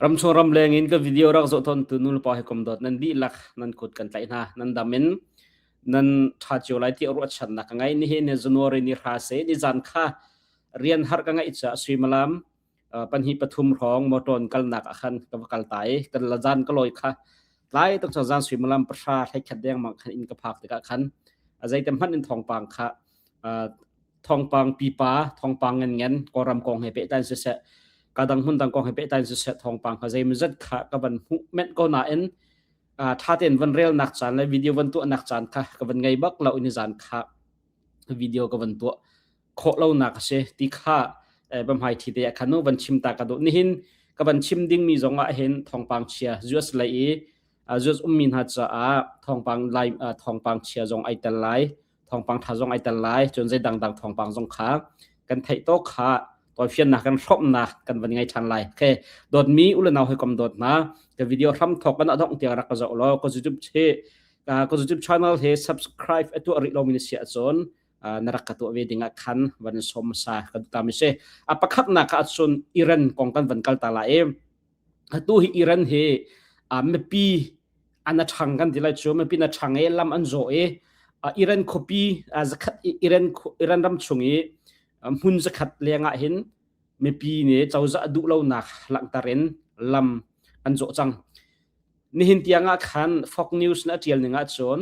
Ramchung ramleng in kan video rak zoh tawntu nulepa he kom dawt nan dihlak nan kut kan tlaih hna. Nan dam in nan ṭha cio lai ti ruahchannak ka ngei. Nihin ni January ni hra se ni zan kha rian har ka ngeih caah suimalam uh, panhi pathum rong motor kalnak akhan ka va kal ta i kan la zan ka loi kha tlai tak chang zan suimalam pasha hlekhat deng mang khan in ka phak tikah khan a zeitem hman in thongpang kha thongpang pipa thongpang ngan kawram kong he pehtain siseh kadang hmun dang kong he pehtain siseh thongpang kha zeimazat kha ka van hmu ment ko na in thaten van rel nak chan le video van tu nak chan kha ka van ngai bak lo in zan kha video ka van tu kho lo nak se ti kha bamhai thi te khanu van chim ta ka do ni hin ka van chim ding mi zong a hin thongpang chia us lai i us um mi na cha a thongpang lai thongpang chia zong ai tel lai thawngpang tha zong ai tel lai cun zei dangdang thawngpang zong kha kan theih to kha toifiannak kan hromnak kan van ngai than lai okay dotmi ulanau hoi kom dot na ka video hram thok kana dong tiang rak ka zo lo ko youtube che ko youtube channel he subscribe atu ri lo min sia chon na rak ka to ve dinga khan van som sa ka tu ta mi se apakhak na ka chun iran kong kan van kal ta la em atu hi Iran hi uh, mipi an athang kan ti lai chu mipi na thang e lam an zo e uh, Iran khopi uh, zakhat Iran Iran ram chung i hmun zakhat lenga hin mipi ne chawza du lo nak langtarin lam an zo chang nihin tianga khan fox news na tial ninga chon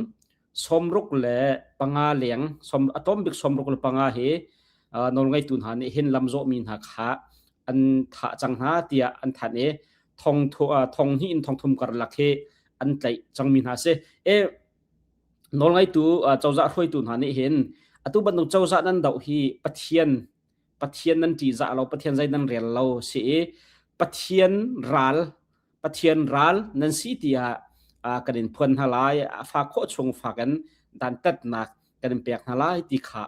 somruk le panga leng som atom bik somruk le panga hi nawlngeitu hna nih hin lamzawhmi hna kha an thah cang hna tiah an thanh i thong thong hi in thong thum karlak hi an tlaih cangmi hna si e nawlngeitu cozah hruaitu hna nih hin atu bantuk cozah nan doh hi pathian Pathian nan ṭihzah lo, Pathian zei nan rel lo si i Pathian ral Pathian ral nan si tiah kan in phuan hna lai a fa khawh chung fak in dan tatnak kan in pek hna lai ti kha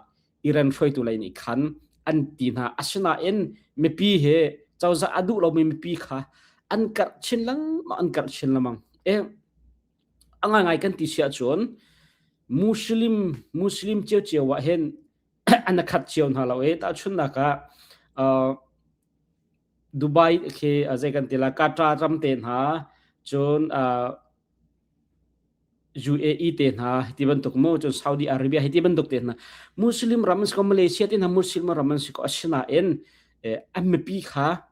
iran hruaitu lei nih khan an ti hna asinain mipi he cozah a duh lomi mipi kha an karh chin lengmang an karh chin lemang e a ngai ngai kan ti sia cun muslim muslim cio cio ah hin an khat cio hna lo i tahchunnak ah Dubai khi zei kan ti la Qatar ram te hna cun UAE te hna ti bantuk mo cun Saudi Arabia hi ti bantuk te hna Muslim ram an si ko Malaysia ti hna Muslim ram an si ko asinain an mipi kha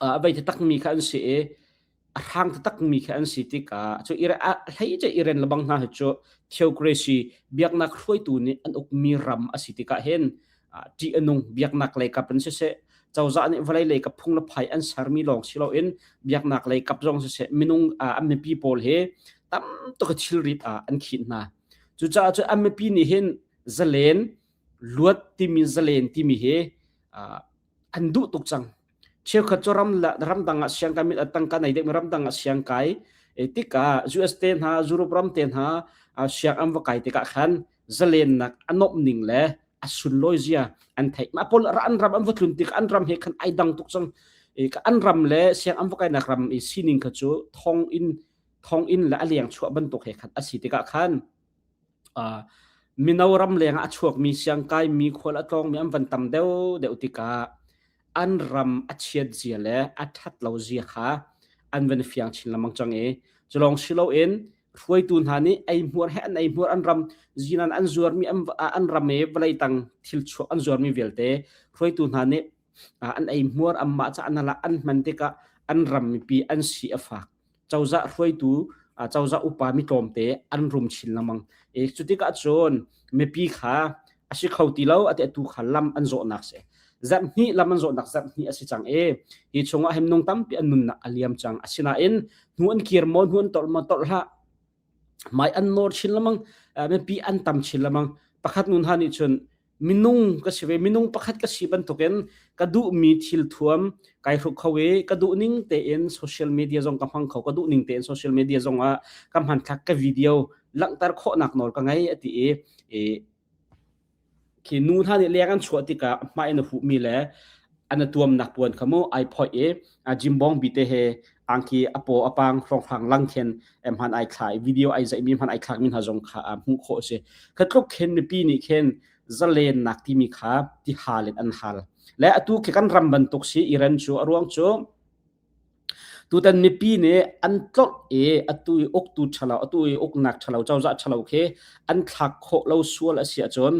uh, a bei takmi kha an si i a hrang takmi kha an si tikah cu hlei ce iren lebang hna hi cu theocracy biaknak hruaitu nih an ukmi ram a si tikah hin ṭih a nung biaknak lei kap in siseh cozah nih vawlei lei kap phung le phai an sermi lawng si loin biaknak lei kap zong siseh minung an mipi pawl hi tam tuk thilrit ah an khinh hna cucaah cu an mipi nih hin zalen luat timi zalen timi hi an duh tuk cang cheukhat cu ram ramdang ah siang kai mit atang kan ai dek ramdang ah siang kai e tika US te hna Europe ram te hna siang am va kai tikah khan zalen nak anom ning le asun loi zia an thei ma pol ra an ram am va tlun tik an ram he khan ai dang tuk cang e ka an ram le siang am va kai nak ram i sining kha chu thong in thong in la aliang chua ban tuk he khan asi tikah khan mino ram lengah a chuakmi siangkaimi khual a tlawngmi an van tam deuh deuh tikah an ram a chiat zia le a ṭhat lo zia kha an van fiang chin lengmang cang i cu lawng si loin hruaitu hna nih ei hmuar he an ei hmuar an ram zinan an zuarmi an ram i vawlei tang thil chuak an zuarmi vialte hruaitu hna nih Ah, an ei hmuar amma ca an alak an hman tikah an ram mipi an si a fak cozah hruaitu ah, cozah upa mi tlawmte an rum chin lamang e cutikah cun mipi kha asi kho ti lo ate tu kha lam an zawhnak se zat hni lam an zawhnak zat hni asi cang e hi chungah hem nung tampi an nunnak aliam cang asinain hnu an kir mo hnu an tol mo tol hla mai an nor chin lamang mipi an tam chin lamang pakhat nun ha nih cun minung ka si ve minung pakhat ka si bantukin ka duh mi thil thuam kai hruk kho e ka duh ning tein social media zong ka hmang kho ka duh ning tein social media zong ah ka hman thlak ka video langhter khawh nak nawl ka ngei ati i Khi nu hna nih leng an chuah tikah mah in a huhmi le an a tuamnak puan kha mu ai phoih i a jimbong bite he angki a paw a pang hrawnghrang lang khin em hman ai thlai video ai zaihmi hman ai thlakmi hna zong kha hmuh khawh a si. Kha tluk khin mipi nih khin zalennak timi kha ti hal in an hal. Le atu khi kan ram bantuk si Iran cu a ruang cu Tutan mipi nih an tlolh i atu i uktu ṭhalo, atu i uknak ṭhalo, cozah ṭhalo khi an thlak khawh lo sual a si ahcun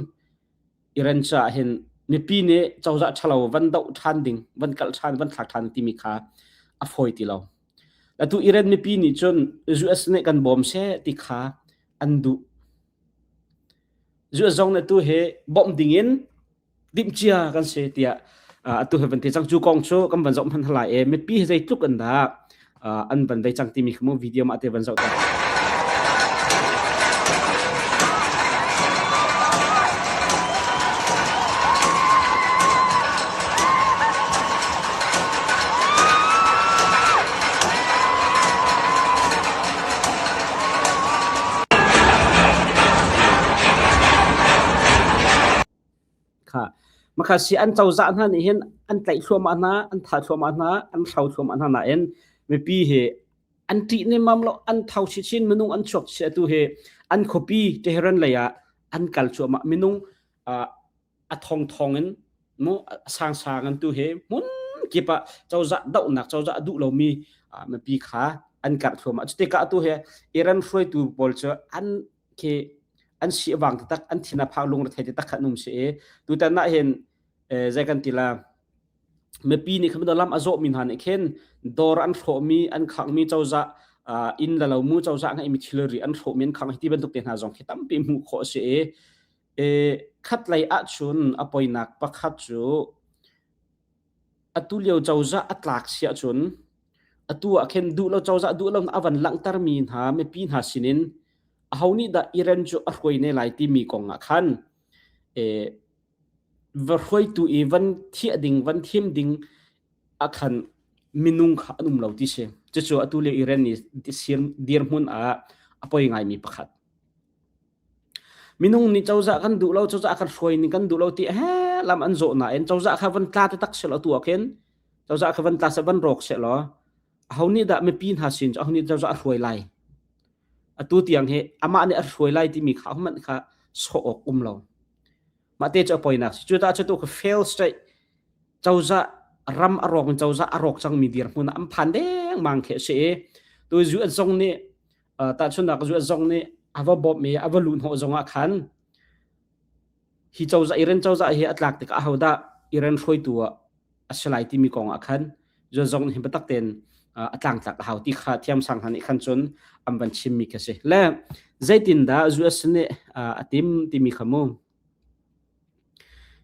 Iran caah hin mipi nih cozah ṭhalo van doh ṭhan ding, van kalh ṭhan, van thlak ṭhan timi kha a fawi ti lo. Atu Iran mipi nih cun US nih kan bawm seh ti kha an duh. US zong nih atu hi bawmh ding in timhcia kan si tiah atu he van ti cang cu kong cu kan van zoh hman hlai e mipi he zeitluk an dak an van dei cang timi khamu video ma te van zoh ta kha makhasi an cozah hna nih hin an tlaih thluahmah hna an tha thluahmah hna an hro thluahmah hna nain mipi hi an ṭih nemam lo an thau chin minung an chuak chia tu hi an khuapi Tehran lei ah an kal chuahmah minung a thong thong in mu sang sang an tu he mun kipa cozah dohnak cozah duh lomi mipi kha an karh thluahmah cu tika tu he Iran hruaitu pawl cu an khi an si wang tak an thina phak lung rethai te tak khat num se e tu tan na hen zai kan tila mepi ni kham lam azo min han khen dor an thro mi an khang mi chawza in la lo mu chawza ngai mi thilri an thro mi an khang hi bantuk te hna zong khi tampi mu kho se e e khat lei a chun apoi nak pakhat chu Atulio cozah a tlak si ahcun atu ah khin duh lo cozah duh lo a van langhtermi hna mipi hna sinin aho nih dah Iran cu a hruai ne lai timi kong ah khan eh, va hruaitu i van thiah ding van thim ding ah khan minung kha an um lo ti si cucu atu lio Iran nih dirhmun ah a poi ngaimi pakhat Minung nih cozah kan duh lo, cozah kan hruai ning kan duh lo ti he lam an zawh nain cozah kha van tla taktak selaw tu ah khin cozah kha van tla seh van rawk selaw aho nih dah mipi hna sin cu aho nih cozah a hruai lai atu tiang hi amah nih a hruai lai timi kha hmanh kha sawh awk um lo mah te cu a poinak si cu tah cu tu kha fail state cozah ram a rawng in cozah a rawk cangmi dirhmun ah an phan dengmang khi a si i tu UN zong nih tahchunhnak zuat zong nih a va bawmhmi a va luh hnawh zongah khan hi cozah iren cozah hi a tlak tikah ahodah iren hruaitu a si lai timi kong ah khan zuat zong hi biatak tein a tlangtlak a hau ti kha thiam sang han nih khan cun an van chimmi kha si le zeitindah US nih a tim timi kha mu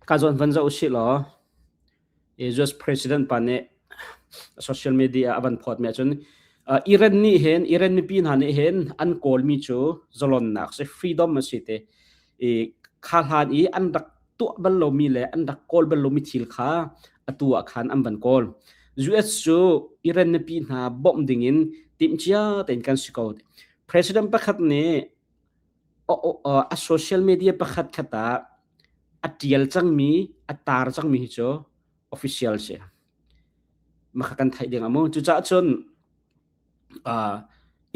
ka zawn van zo si law US president pa nih social media a van phawt mi ahcun uh, Iran nih hin Iran mipi hna nih hin an kawlmi cu zalonnak si freedom a si te i kha hlan i an rak tuah bal lomi le an rak kawl bal lomi thil kha atu ah khan an van kawl US cu Iran mipi hna bawmh ding in timcia tein kan si ko president pakhat nih a social media pakhat khat ah a tial cangmi a tar cangmi hi cu official si makha kan theih ding amaw cucah cun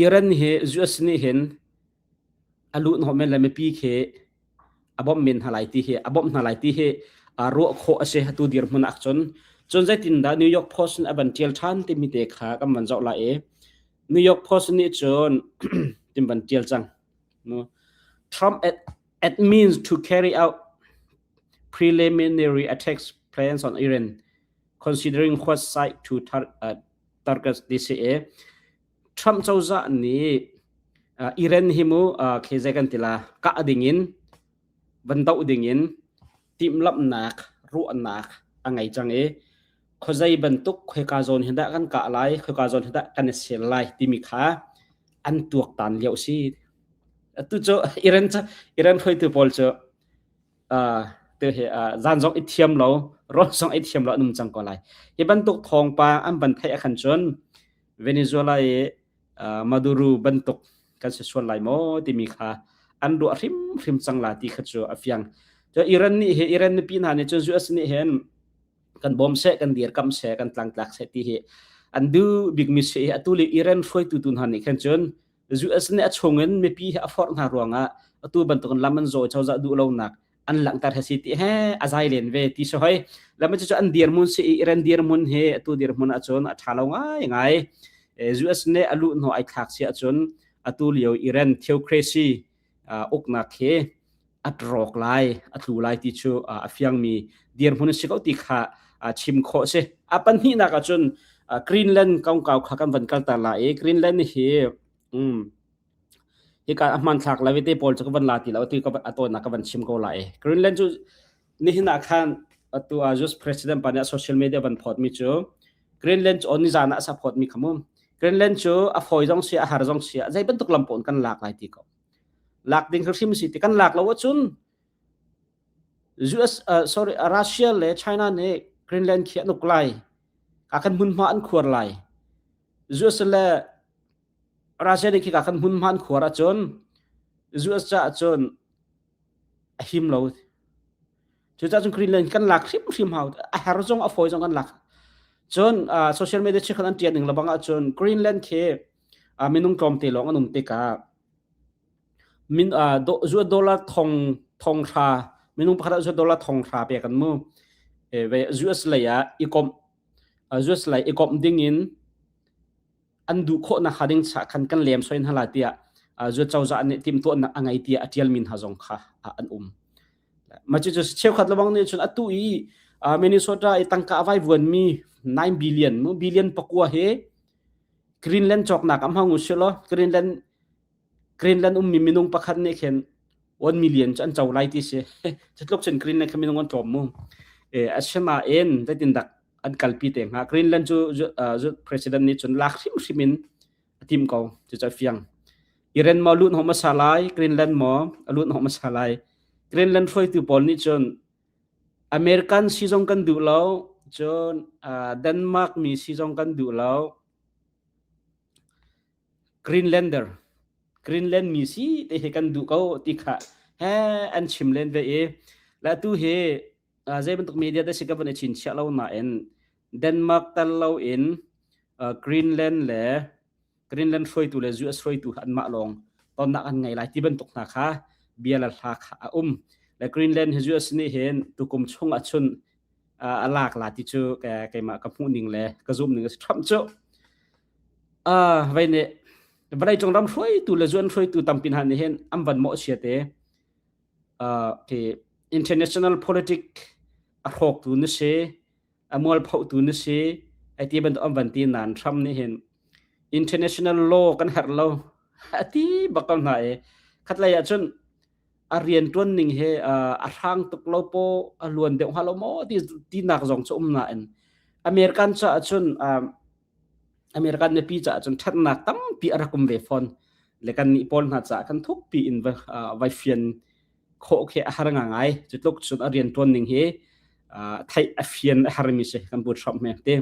Iran hi US nih hin a lut hom men le mipi khi a bom men hna lai ti hi a bom hna lai ti hi ruah khawh a si hatu dirhmun ah cun cun zeitin dah New York Post in a van tial than timi te kha kan van zoh la i New York Post nih cun tin ban tial cang. Trump admits to carry out preliminary attacks plans on Iran, considering what side to tar uh, target DCA. Trump cozah nih uh, Iran hi mu uh, khezai kan tila ka ading in, van dau ding in timhlamhnak ruahnak a ngei cang i khuazei bantuk khoika zawn hi dah kan kah lai khoika zawn hi dah kan i ser lai timi kha an tuaktan lio si atu cu iren iren hruaitu pawl cu te he zan zong i thiam lo ron zong i thiam lo an um cang ko lai hi bantuk thawngpa an ban theih a khan cun venezuela i Maduru bantuk kan si sual lai maw timi kha an ruah hrimhrim cang la ti kha cu a fiang. Cu Iran nih hi Iran mipi hna nih cun US nih hin kan bawm seh kan dirkam seh kan tlangtlak seh ti hi an duh bikmi si a tu le Iran hruaitu tu hna nih khan cun US nih a chung in mipi hi a forh hna ruangah atu bantukin lam an zawi cozah duh lonak an langhter hasi ti he a zai len ve ti so hoi lama chu an dir mun si i ren dir mun hi atu dir mun a chun a tha lo ngai ngai US ne alu no ai thak si a chun atu lio iran theocracy uknak he at rok lai atlu lai ti chu a fiang mi dir mun si ko ti kha chim kho se apan hi na ka chun Greenland kong kau kha kan van kal ta la e Greenland hi um Hika a hmanthlak la vete pawl cu ka van la ti lo atu a tawnnak ka van chim ko lai. Greenland cu nihin ah khan atu a US president pa nih social media van phawt mi cu Greenland cu on nizan ah a sa phawt mi khamu Greenland cu a foi zong si a har zong si a zei bantuk lam pawn kan lak lai ti ko lak ding hrim si ti kan lak lo ahcun US uh, sorry Russia le China nih Greenland khi an uk lai ka kan mun ma an khuar lai US le Russia nih khika kan hmun hman khuar ahcun US caah cun a him lo. Cucahcun Greenland kan lak hrimhrim hau a her zong a fawi zong kan lak. Cun uh, social media chi khan an tian ning lebang ahcun Greenland khi uh, minung tlawmte lawng an um tikah min uh, do, zuat dollar thong thong thra minung pakhat ah zuat dollar thong thra pe kan mu e, ve US lei ah ikom uh, US lei ikom ding in an duh khawh nak kha ding cha khan kan lem soi hna la tia zu chawza ne tim to nak angai tia atial min ha zong kha an um ma chu chu cheu khat lawang ne chun atu i Minnesota i tangka vai vuan mi 9 billion mu billion pakua he Greenland chok nak am ha ngu shilo Greenland Greenland ummi minung pakhat nih khin 1 million cu an co lai ti si. Cutluk cun Greenland kha minung an tlawm mu. E, asinain zeitindak an kalpi te hnga. Greenland cu president nih cun lak hrimhrim in a tim ko. Cucu a fiang. Iran maw lut hom hmasa lai, Greenland maw a lut hom hmasa lai. Greenland hruaitu pawl nih cun American si zong kan duh lo, cun Denmark mi si zong kan duh lo. Greenlander Greenland mi si te he kan duh ko ti kha he an chim len ve i la tu hi zei bantuk media te si ka von i chin chiah lo na in Denmark tal lo in Greenland le Greenland hruaitu le US hruaitu an mah lawng tonnak an ngai lai ti bantuk hna kha bia la hla kha a um le Greenland hi US nih hin tukum chung a chun a lak la ti cu keimah ka hmuh ning le ka zum ning a si ṭham cu vei nih vawlei cung ram hruaitu le zuan hruaitu tampi hna nih hin an van mawh chia te ke international politic a hrawktu na si a mualphotu na si ai ti bantuk an van ti nan ram nih hin international law kan herh lo a ti bakal hna e khatlei ah cun a riantuan ning he a hrang tuk lo po a luan deuh hnga lo maw ti tinak zong cu um nain American ca ahcun American mipi ca ahcun ṭhatnak tampi a rak um ve fawn le kan nih pawl hna caah kan thukpi in vai fian khawh khi a har nga ngai cu tluk cun a riantuan ning hi theih a fian a har mi si kan bu hram me te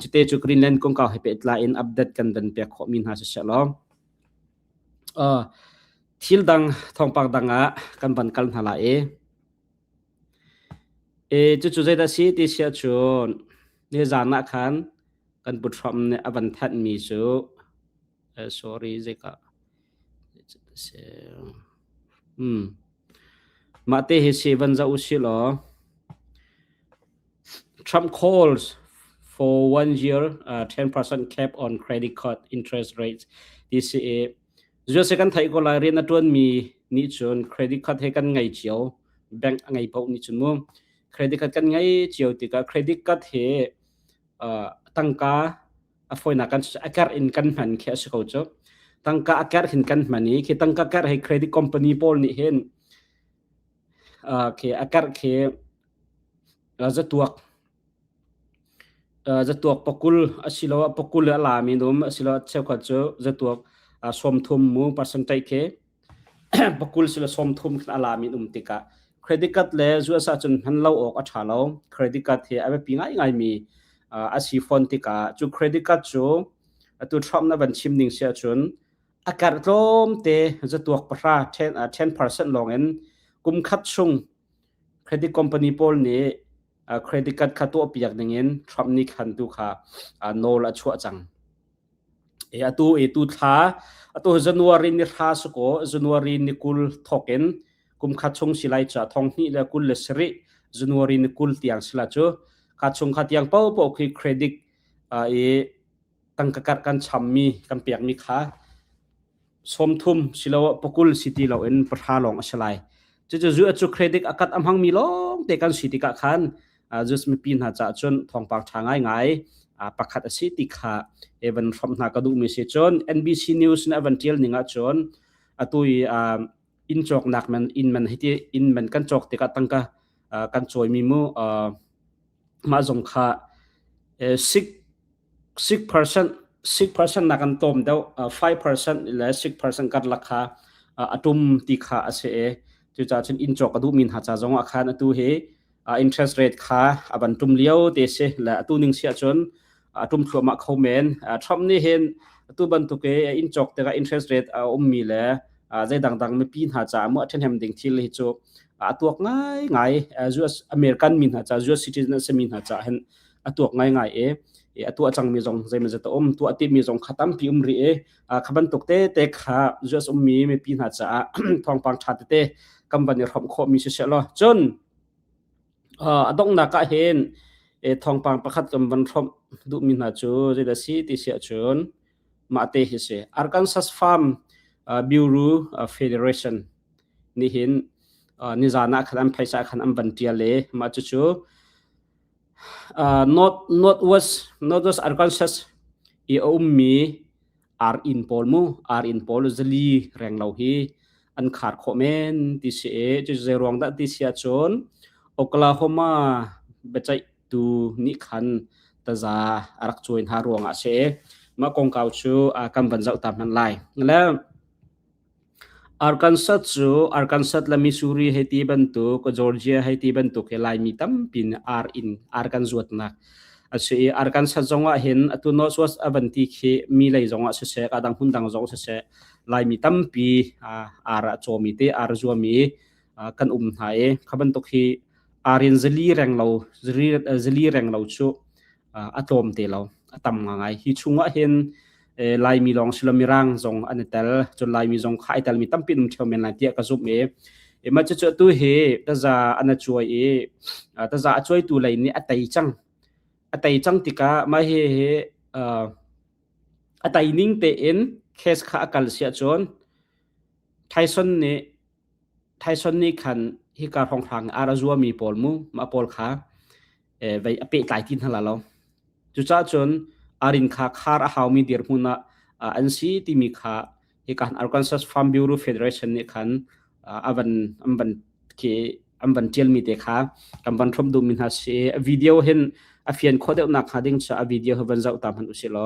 cute cu Greenland kong kau he pe tlai in update kan van pek khawh mi hna si se law Thil dang thawngpang dang ah kan van kal hna lai i cucu zeidah a si ti si ahcun nizaan ah khan kan Pu Trump nih a van thanhmi cu sorry zeika mah te hi si van zoh u sih law Trump calls for one-year uh, 10% cap on credit card interest rates DCA. Zuase kan thai ko lai rian a tuan mi ni chun credit card he kan ngai cio bank a ngai pau ni chun mu credit card kan ngai cio tika credit card he uh, tangka a foina kan akar in kan man khe se ko cho tangka akar hin kan mani khi tangka kar he credit company pawl ni hen uh, ke akar ke Zatuak. Zatuak pakul asiloah pakul le a lami dum asiloah cheukhat cu zatuak sawmthum mu percentage khi pakul sile sawmthum khin a lami um tikah credit card le zu asa cun hman lo awk a ṭha lo. Credit card hi a biapi ngaingaimi a si fawn tikah cu credit card cu atu Trump na van chim ning si ahcun a karh tlawmte zatuak pahra ten percent lawngin kum khat chung credit company pawl nih credit card kha tuahpiak dingin Trump nih khan tu kha nawl a chuah cang e atu e tu thla atu january ni thla su ko january ni kul thokin kum kha chung silai cha thong hni le kul le seri january ni kul tiang sila chu kha chung kha tiang po po khi credit i tangka kar kan cham mi kan pek mi kha sawmthum siloah pakul si ti loin pahra lawng a si lai. Cucu zu cu credit a kat a hmangmi lawng te kan si tikah khan Jews mipi hna caah cun thawngpang ṭha ngaingai pakhat a si ti kha evan hram hna ka duhmi si cun NBC News nih a van ṭial ning ahcun atu i inn cawknak man inn man hiti inn man kan cawk tikah tangka uh, kan cawimi mu uh, mah zong kha uh, six six percent six percent nak kan tom deu uh, five percent le six percent kan lakha uh, atum ti kha ase e tu cha chun in chok adu min ha cha zong a khan atu he interest rate kha a van tum lio te si le atu ning si ahcun a tum thluahmah kho men Trump nih hin atu bantuk e in chok te ka interest rate a um mi le zei dangdang mipi hna ca mu a them ding thil hi chu a tuak ngai ngai US American mi hna ca US citizen an semi hna ca hen a tuak ngai ngai e e atu a chang mi zong zeimaza ta om tu ati mi zong khatam pi um ri e kha bantuk tete kha US ummi mipi hna caah thawngpang ṭha tete kan van i hrawm khawhmi si se law cun a donghnak ah hin thawngpang pakhat kan van hrawmh duhmi hna cu zeidah si ti si ahcun mah te hi si Arkansas Farm Bureau Federation nih hin nizan ah khan an phaisa khan an van ṭial i mah cucu uh, north northwest northwest Arkansas i a ummi ar in pawl mu ar in pawl zali reng lo hi an khar kho men ti si e chu zei ruang dah ti sia chun Oklahoma bechai tu ni khan taza arak chuin ha ruang a se ma kongkau chu kan ban zau ta man lai le Arkansas cu Arkansas le Missouri hei ti bantuk, Georgia hei ti bantuk hi Laimi tampi nih ar in ar kan zuatnak a si i Arkansas zongah hin atu Northwest a van ti khi mi lei zongah siseh, adang hmundang zong siseh Laimi tampi ar ah a cawmi te, ar zuami kan um hna i kha bantuk hi ar in zali reng lo cu a tlawm te lo a tam ngai hi chung ah hin laimi lawng si lo mirang zong an i tel cun laimi zong khai tel mi tampi um theo men lai tiah ka zumh i ema cu cu tu hi taza an a cuai i taza a cuai tu lei nih a tei cang a tei cang tikah mah hi hi a tei ning te in case kha a kal sia cun Tyson nih Tyson nih khan hika hrawnghrang ar a zuami pawl mu mah pawl kha eh, vei a pehtlai ti hna la lo. Cucaah cun arin kha khar a haumi dirhmun ah uh, an si timi kha hi kan Arkansas Farm Bureau Federation nih khan uh, an van an van ke an van tialmi te kha kan van throm dum mi hna si video hin a fian kho deuh nak hnga ding cha a video he van zau ta man usilo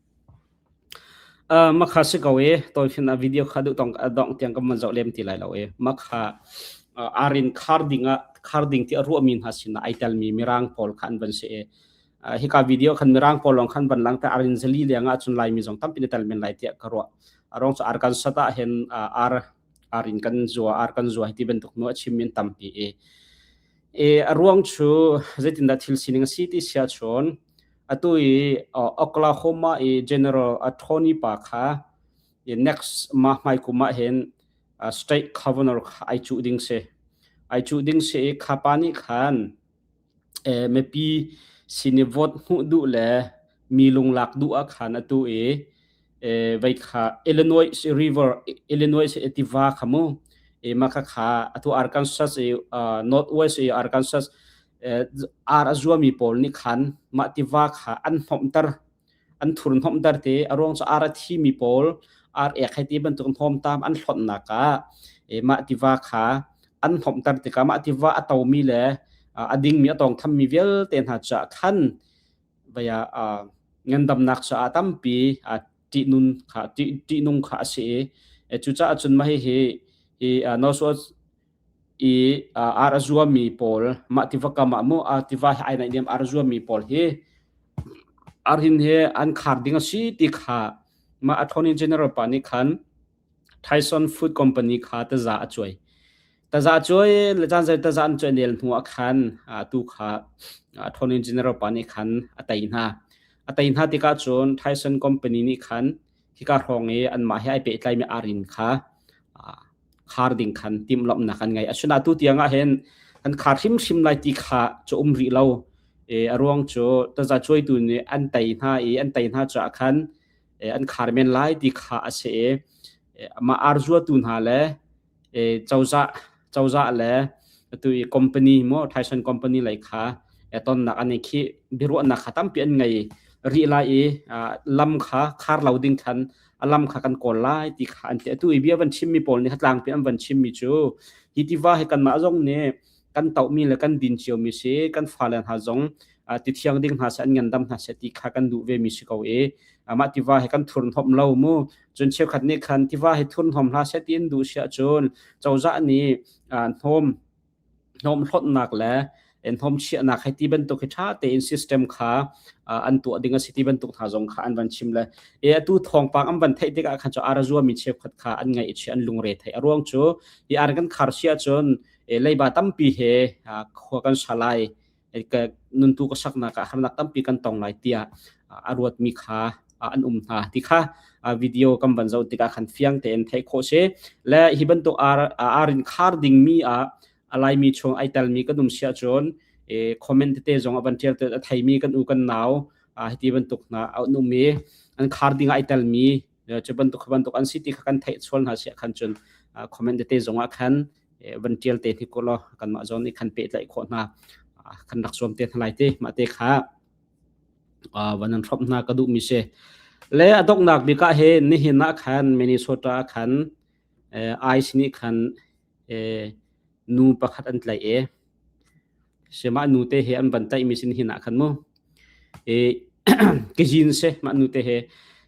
Uh, makha si ko i tawikhin ah video kha duh tong dongh tiang kan man zoh lem ti lai lo i makha uh, arin khar ding ah khar ding ti a ruah mi hna sin ah ai tel mi mirang pawl khan ban si i uh, hika video khan mirang pawl long khan ban lang ta arin zali liang ah chun lai mi zong tampi ni tel men lai ti ka ruah arong so arkansas ta hen uh, ar arin kan zuwa ar kan zuwa ti bantuk nu a chim min tampi i e aruang chu zeitin da thil sining a si ti sia chon Atu i uh, Oklahoma i General Attorney pa kha i next ma hmai kum ah hin uh, state governor kha ai chu ding si ai chu ding si i kha pa ni khan eh, mepi sini vote hnu du le mi lunglak du a khan atu i eh, vai kha Illinois River Illinois etiva khamu e ma kha kha atu Arkansas i uh, Northwest i Arkansas ar a zuami pawl nih khan mah tiva kha an hnawmter an thur hnawmter ti a ruang cu ar a thimi pawl ar ek hei ti bantuk hnawmtam an hlonnak ah mah tiva kha an hnawmter tikah mah tiva a tomi le a dingmi a tawng thammi vialte hna caah khan vaya ngandamnak caah tampi ṭihnun kha ṭihnung kha a si i cucaah cun mah hihi hi no sual i uh, ar a zuami pawl mah tiva kam ah mu uh, tiva hlai naih niam ar a zuami pawl hi ar hin hi an khar ding a si ti kha ma attorney general pa ni khan Tyson Food Company kha taza a chuai taza chuai le chan sai taza an chuai nel hnu a khan tu kha attorney general pa ni khan atai hna atai hna ti ka chun Tyson company ni khan hika hrawng i anmah he ai pehtlaimi arin kha khar ding khan timhlamhnak an ngei asinain atu tiangah hin an khar hrimhrim lai ti kha cu um rih lo e a ruang cu taza cuaitu nih an tei hna i an tei hna caah khan an khar men lai ti kha a si i amah arzuatu hna le cozah cozah le atu i company maw Tyson company lei kha tonnak an i khi biaruahnak kha tampi an ngei rih lai i lam kha khar lo ding khan a lam kha kan kawl lai ti kha an ti atu i bia van chimmi pawl nih tlaangpi an van chimmi cu hi tiva hi kanmah zong nih kan tohmi le kan din ciomi si kan fale hna zong ti thiang ding hna seh an ngandam hna seh ti kha kan duh ve mi si ko i amah tiva he kan thurn hom lo mu cun cheukhat nih khan tiva he thurn hom hla seh tiin duh sia cun cozah nih hnawm hnawm hlotnak le en hom chiahnak hai ti bantuk hi tha tein system kha an tuah ding a si ti bantuk hna zong kha an van chim le e atu thongpang am van thei tik ah khan cho ara zuwa mi cheukhat kha an ngai chi an lungre thei a ruang chu i ar kan khar sia chun leiba tampi he khua kan sa lai nuntu ka saknak ah harnak tampi kan tong lai tiah a ruatmi kha an um hna ti kha video kan van zoh tikah khan fiang tein theih khawh si le hi bantuk arin khar dingmi ah alaimi chung ai telmi kan um sia cun comment tete zong avan tial te thaimi kan u kan nau hiti bantuk na an um i an khar ding ai telmi cu bantuk bantuk an si ti kha kan theih sual hna sia khan cun comment tete zong ah khan van tial te hi kolaw kanmah zong nih khan pehtlaih khawh hna kan rak zuam te hna lai te mah te kha van an hrop hna ka duh mi se le adoknak bika he nihin na khan minnesota khan ice ni khan nu pakhat an tlai e sema nu te he an van tai mi sin hin ah khan mu e ke jin se ma nu te he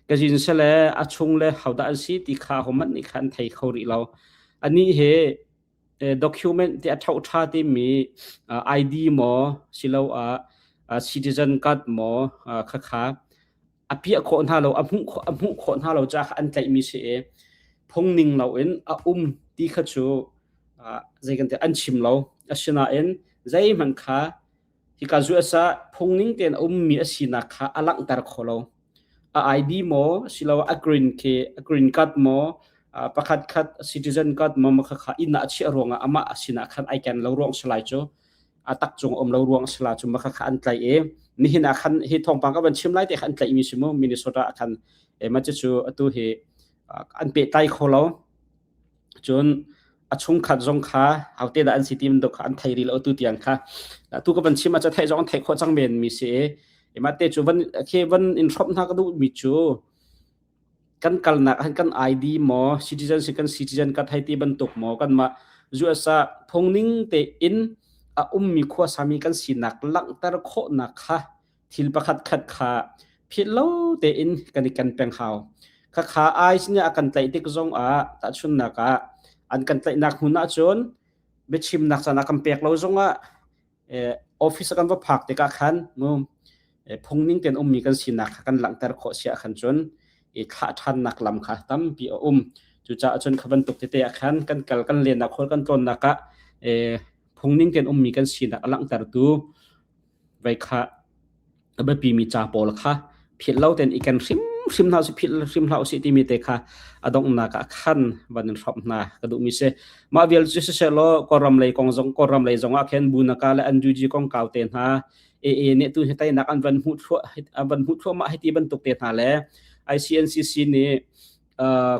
ka jin se le a chung le hauda an si ti kha homan ni khan thei kho ri lo ani he document ti a thau tha ti mi id mo silo a citizen card mo kha kha a piah khawh hna lo a hmuh a hmuh khawh hna lo ca kha an tlaihmi si i phungning loin a um ti kha cu zei kan an chim lo asinain zeihmanh kha hika zu asa phungning tein ummi a sinak kha a langhter kho lo a ID maw silo a green khi a green card maw pakhat khat citizen card maw makha kha ina a chiah ruangah amah a sinah khan ai ken lo ruang salai cu a tak cung um lo ruang a si la cu ma kha kha an tlaih i nihin ah khan hi thawngpang ka van chim lai te kha an tlaihmi si mu Minnesota ah khan e ma cu atu hi an pe tlai kho lo cun a chung khat zong kha hote da an si tim dok kha an thei ri lo tu tiang kha tu ka van chim ma cha thei zong thei kho chang men mi si e ma te chu van khe van in hrop na ka du mi chu kan kalnak han kan ai di maw citizen si kan citizen ka thai ti bantuk maw kan ma USA phungning te in a ummi khua sami kan sinak langhter khawhnak kha thil pakhat khat kha phit lo te in kan i kan peng hau kha kha ai sin a kan tlai tik zong a ta chunnak a an kan tlainak hmun ah cun biachimnak sana kan pek lo zong ah office kan va phak tikah khan phungning tein ummi kan sinak kha kan langhter khawh si ah khan cun i thlah ṭhannak lam kha tampi a um. Cucaah cun kha bantuk tete ah khan kan kal kan lennak khual kan tlawnnak ah phungning tein ummi kan sinak a langhtertu vei kha a biapimi ca pawl kha philh lo ten i ken hrimhrim hna philh hrim hlah usih timi te kha adonghnak ah khan van in hrop hna ka duhmi si mah vial cu siseh law kawram lei kong zong kawram lei zong ah khin bunaka le anduji kong kau te hna e e ne tu hi tainak an van mu thlu an van mu thlu ma hiti bantuk te hna le ICNCC nih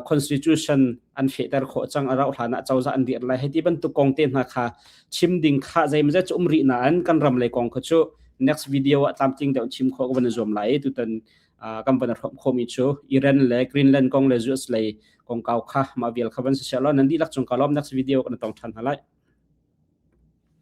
constitution an fehter khawh cang a rauh hlan ah cozah an dir lai hei ti bantuk kong te hna kha chim ding kha zeimawzat cu umri na an kan ram lei kong kha cu next video ah tlamtling deuh chim kho ka van zuam lai tutan kan van hrom khomi chu Iran le Greenland kong le US lei kong kau kha ma vial kha van si lo nan di lak chung kalom next video kan tong than halai